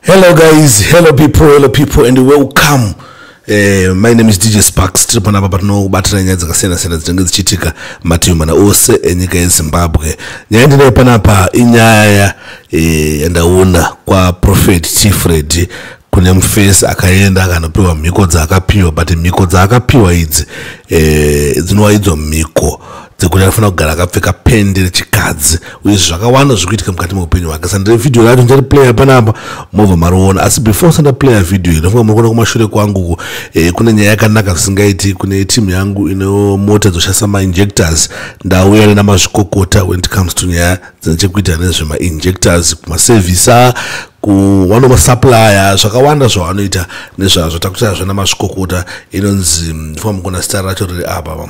hello guys hello people hello people and welcome Eh, my name is dj sparks tiri panapa patinobatira nyaya dzakasiyana-siyana dzinenge dzichiitika mativi mana ose enyika yezimbabwe nyaya ndinayo panapa inyaya eh, yandaona eh, kwaprofet tifred kune mufesi akaenda akanopiwa mhiko dzaakapiwa but mhiko dzaakapiwa idzi eh, dzinova idzo mhiko dzekuti anofanira kugara akapfeka pendi rechikadzi uye zvakawanda zviri kuitika mukati meupenyu hwake sandire vhidhiyo racho ndiri player panapa mobva mariona asi before sanda player vhidhiyo inofunga muri kuona kumashure kwangu eh, kune nyaya yakanaka zvisingaiti kune timu yangu ine mota dzoshandisa mainjectors ndauya nena mazvikokota when it comes to nyaya dzine chekuita nezvemainjectors kumasevhisa kuwano masupplier zvakawanda zvavanoita nezvazvo takutarazvo namazvikokota inonzi mm, famba mukona sitara racho riri apa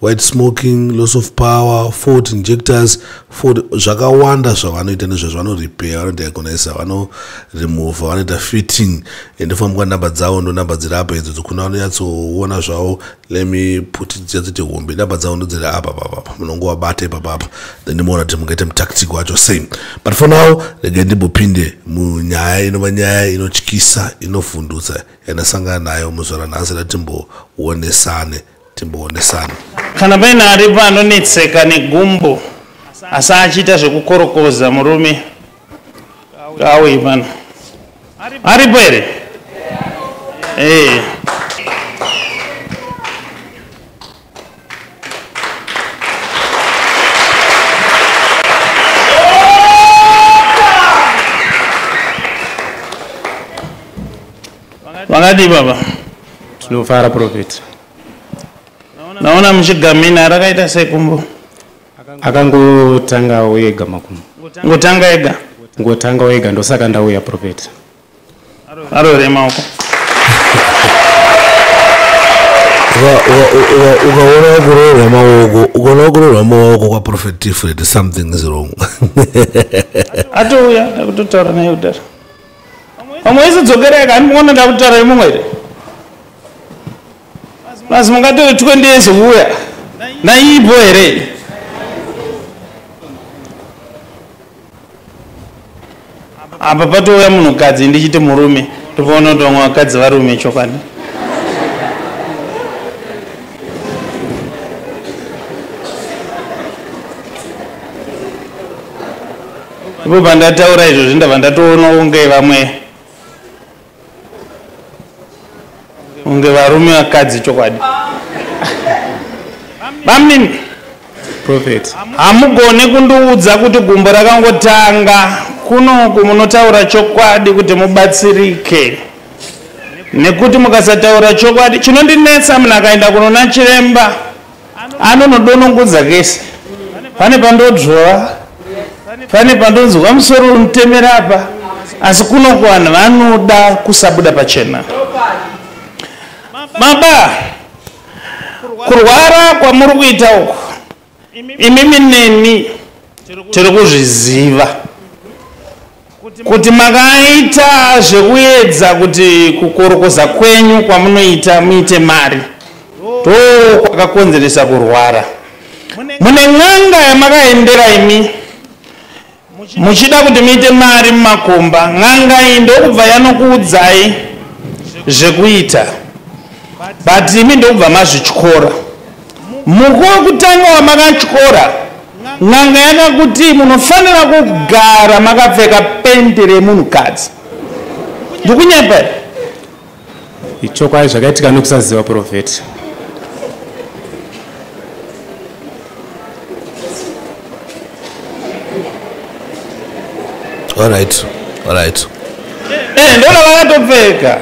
white smoking loss of power fort injectors fort zvakawanda zvavanoita nezvazvo vanorepair vanodiagonisa vanoremova vanoita fitting ende fambwa namba dzavo ndo namba dziri apa idzo dzokuna vanonyatsoona zvavo lemi puti dziyatsiti hombe namba dzavo ndo dziri apa papapa munongo vabata ipapapa then ndimoona kuti mungaita mutactic wacho same but for now regai ndimbopinde munyaya inova nyaya inotyisa inovhundutsa yanasangana nayo muzvara nhasi ratimbowonesane timboonesana kana paine aripo anonetseka negumbo asi achiita zvekukorokoza murume auyi pano aripo here ee eh. Makadii baba? Tinofara prophet. Naona muchigamina rakaita sekumbo. Akangotanga wega makumu. Ngotanga ega. Ngotanga wega ndosaka ndauya prophet. Arorema uko. ukaona wakurorwa maoko ukaona wakurorwa maoko kwaprofet tifred something is wrong atouya akutotaura naye kudaro Vamwe vese dzokerai kani muona ndakutaura imumwe here? Plus mungatore 20 years kuuya. Naipo here? Apa patouya munhukadzi ndichiti murume topaona kuti vamwe vakadzi varume chokwadi. Ipo pandataura izvozvi ndabva ndatoona kunge vamwe kunge varume vakadzi chokwadi bamnini prophet hamugone kundiudza kuti gumbo rakangotanga kunoku munotaura chokwadi kuti mubatsirike nekuti mukasataura chokwadi chinondinetsa munhu akaenda kunona chiremba anonodonongodza kese pane pandodzvova pane pandonzwa musoro unotemera apa asi kuno kuvanhu vanoda kusabuda pachena maba kurwara kwamuri kuita uku imimi neni tiri kuzviziva Kuti makaita zvekuedza kuti kukorokoza kwenyu kwamunoita muite mari ndokwakakonzeresa kurwara. Mune n'anga yamakaendera imi muchida kuti muite mari mumakomba, n'anga iyi ndokubva yanokuudzai zvekuita but imi ndokubva mazvityora. Muko wekutanga wamakatyora, n'anga yakakuti munofanira kugara makapfeka penti remunhukadzi. Ndikunyepa here? Ichokwadi zvakaitika nokusaziva purofeti. Alright, alright. Eh, ndoda vakatopfeka.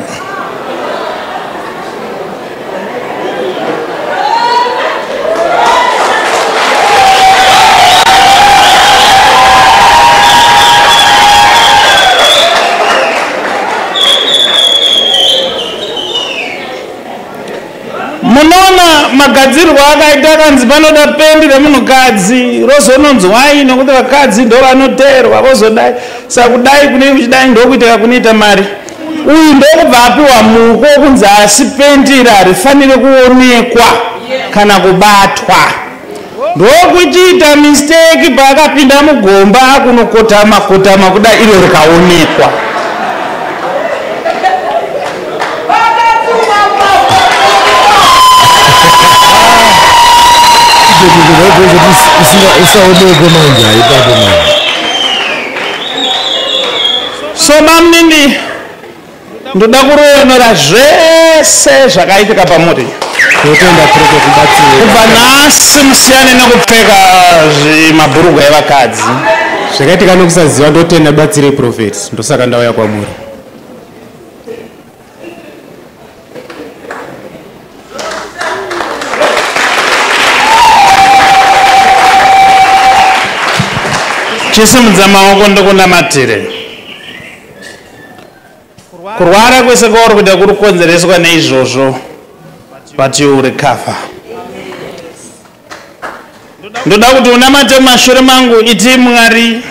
munoona magadzirwo akaita akanzi panoda pendi remunhukadzi rozononzwai nokuti vakadzi ndo vanoteerwa vozodai sakudai kunei kuchidai ndokuiteka kunoita mari uyu ndokubva apiwa muko kunzi asi pendi iri harifanire kuonekwa kana kubatwa ndokuchiita misteki paakapinda mugomba akunokotama kotama kuda iro rikaonekwa usaonekwe manje haipapo manje so mamnini ndoda kuroyonora zvese zvakaitika pamuri totenda tiri kubatsira kubva nhasi musiyane nekupfeka mabhurugwa evakadzi zvakaitika nekusaziva ndotenda batsirei profeti ndosaka ndauya kwamuri chisimudza maoko ndokunamatire Kurwara kwese kwauri kuita kuri kukonzereswa neizvozvo but you will recover. Ndoda kuti unamate mumashure mangu iti Mwari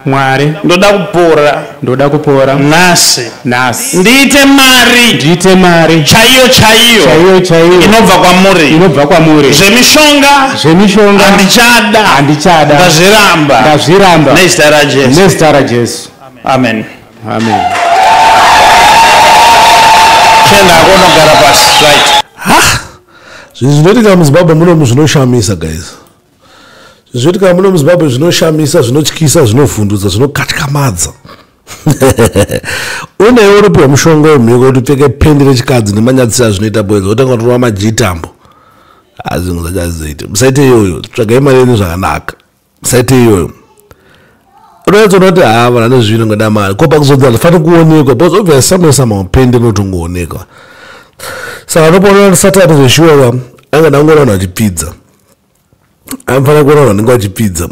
Mwari ndoda kupora ndoda kupora nhasi nhasi ndiite mari ndiite mari chaiyo chaiyo chaiyo chaiyo inobva kwamuri inobva kwamuri zvemishonga zvemishonga handichada handichada ndazviramba ndazviramba nezita raJesu nezita raJesu amen amen chenda akonogara pasi right ha zvinhu zvinoitika muzimbabwe munomu zvinoshamisa guys zvoitika muno muzimbabwe zvinoshamisa zvinotyisa zvinovhundutsa zvinokatyamadza unewe uripiwa mushonga wemhiko kuti upfeke pendi rechikadzi nemanyadzisira zvinoita bwenza wotanga kutorwa majitambo azvinhu zvachazizoita musaite iyoyo tsvagai mari yenyu zvakanaka site iyoyo unoedza unoti haa vanhu ane zvino ngoda mari ko pakuzodza zvifanira kuonekwa because obviously somewhere somehow pain rinotongoonekwa saka unopoona satani zveshuwa anga ndangoona vanhu vachipfidza anofanira kuona vanhu vanenge vachipfidza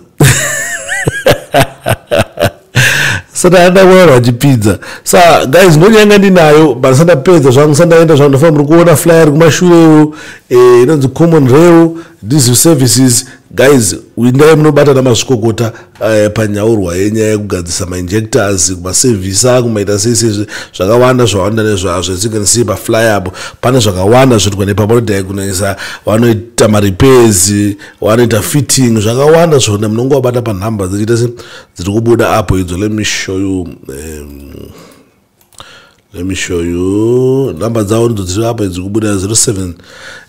sata ndakuona vachipinza sa guys ndonyanga ndinayo but sandapedza zvangu sandaenda zvangu ndafana muri kuona flyer kumashurewo eh, inonzi common rail these services guys windai munobatana mazvikokota eh, panyaurwa yenyaya yekugadzisa mainjectors kumasevhisa kumaita sese zvakawanda zvawanda nezvazvo as you can see pafly apo pane zvakawanda zvinoitwa nepamodiagonisa vanoita marepairs vanoita fitting zvakawanda zvona munonge wabata panhamba dzichiita se dziri kubuda apo idzo let me show you um, let me show you number dzavo ndidzo dziri apo idzo kubuda 07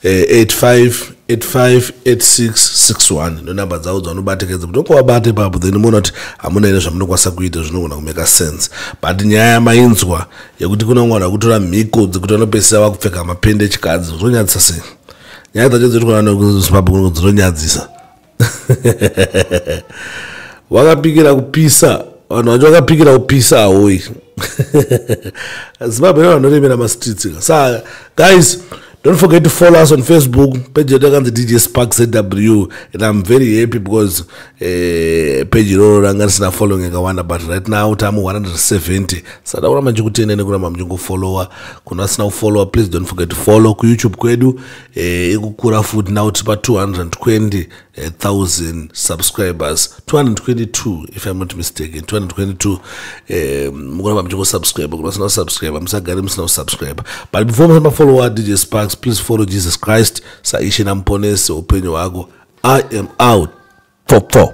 85 85 86 61 ndo number dzavo dzavanobatekedza kuti okuvabate papo then moona kuti hamuna ine zvamunokwanisa kuita zvinogona kumeka sense but nyaya yamainzwa yekuti kuna mwana akutora mhiko dzekuti vanopesera vakupfeka mapende echikadzi zvinonyadzisa sei nyaya dzacho dziri kunazimbabwe kunoko dzinonyadzisa wakapikira kupisa vanhu vacho vakapikira kupisa ahoyi zimbabwe ne vanoremera mastreets ka sa guys don't forget to follow us on facebook page yedu yakanzi dj spark zw and im very happy because eh, page iroro ranga risina following yakawanda but right now tame 170 saka takuramba ndichikutenda nekuramba muchingofollowa kuna asina kufollowa please don't forget to follow kuyoutube kwedu eh, ikukura futi now tipa 220000 subscribers 222 if im not mistaken 222 eh, mukuramba muchingosubscribe kuti vasina kusubscribe musagare musina kusubscribe but before musamba follower dj sparks please follow jesus christ saishe namuponesi upenyu hwako i am out 44